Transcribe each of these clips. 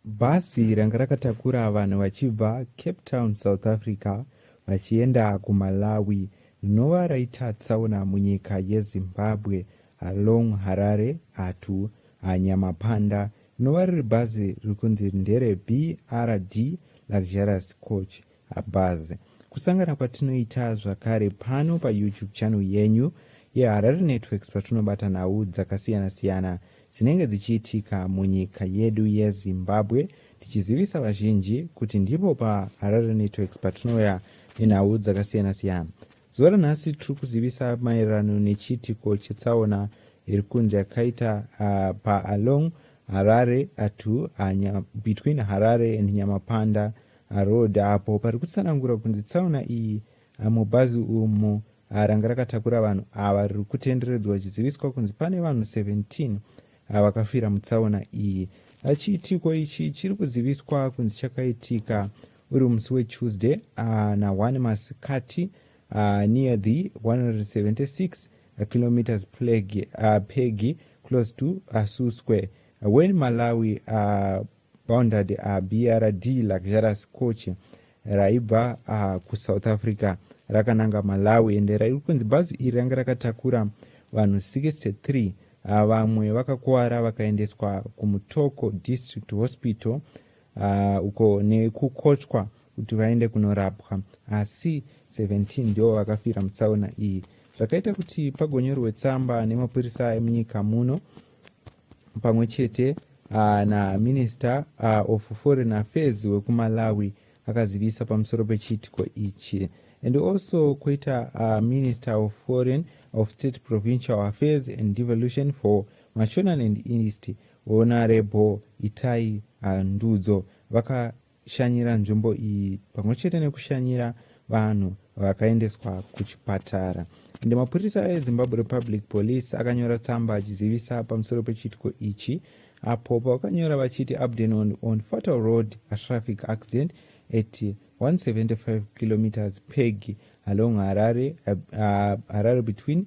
Bhazi ranga rakatakura vanhu vachibva Cape Town, South Africa vachienda kuMalawi rinova raita tsaona munyika yeZimbabwe along Harare Hatu Nyamapanda rinova riri bhazi riri kunzi ndere BRD Luxurious Coach Habaz kusangana kwatinoita zvakare pano pa YouTube channel yenyu ye Harare Networks patinobata nhau dzakasiyana siyana dzinenge dzichiitika munyika yedu ye Zimbabwe tichizivisa vazhinji kuti ndipo pa Harare Networks patinouya nenhau dzakasiyana siyana. Zuva ranhasi tiri kuzivisa maererano nechiitiko chetsaona iri kunzi yakaita uh, pa along Harare atu uh, between Harare and Nyamapanda Haroad apo pari kutsanangura kunzi tsaona iyi mubhazi umu ranga rakatakura vanhu ava riri kutenderedzwa achiziviswa kunzi pane vanhu 17 vakafira mutsaona iyi chiitiko ichi chiri kuziviswa kunzi chakaitika uri musi wetuesday na 1 masikati near the 176 kilometers pegi close to asuswe when malawi bounded uh, brd luxurious coach raibva uh, kusouth africa rakananga malawi ende rairi kunzi bhazi iri ranga rakatakura vanhu 63 uh, vamwe vakakuvara vakaendeswa kumutoko district hospital uh, uko nekukochwa kuti vaende kunorapwa asi 17 ndivo vakafira mutsaona iyi zvakaita kuti pagonyorwe tsamba nemapurisa emunyika muno pamwe chete uh, naminister uh, of foreign affairs wekumalawi akazivisa pamusoro pechiitiko ichi and also kuita uh, minister of foreign of state provincial affairs and devolution for mashonan and east honorable itai uh, ndudzo vaka shanyira nzvimbo iyi pamwe chete nekushanyira vanhu vakaendeswa kuchipatara ende mapurisa ezimbabwe republic police akanyora tsamba achizivisa pamusoro pechiitiko ichi apo pavakanyora vachiti abdenon on fatal road traffic accident at 175 kilometers peg along harare, uh, harare between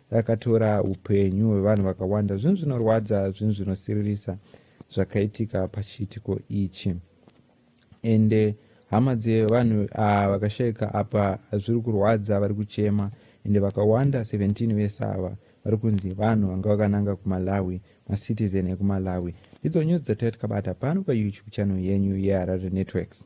Rakatora upenyu hwevanhu vakawanda. Zvinhu zvinorwadza, zvinhu zvinosiririsa zvakaitika pachiitiko ichi. Ende hama dzevanhu ah, vakashaika apa zviri kurwadza, vari kuchema ende vakawanda 17 vese ava vari kunzi vanhu vanga vakananga kumalawi macitizen ekumalawi ndidzo news dzataitikabata pano payoutube channel yenyu yeharare networks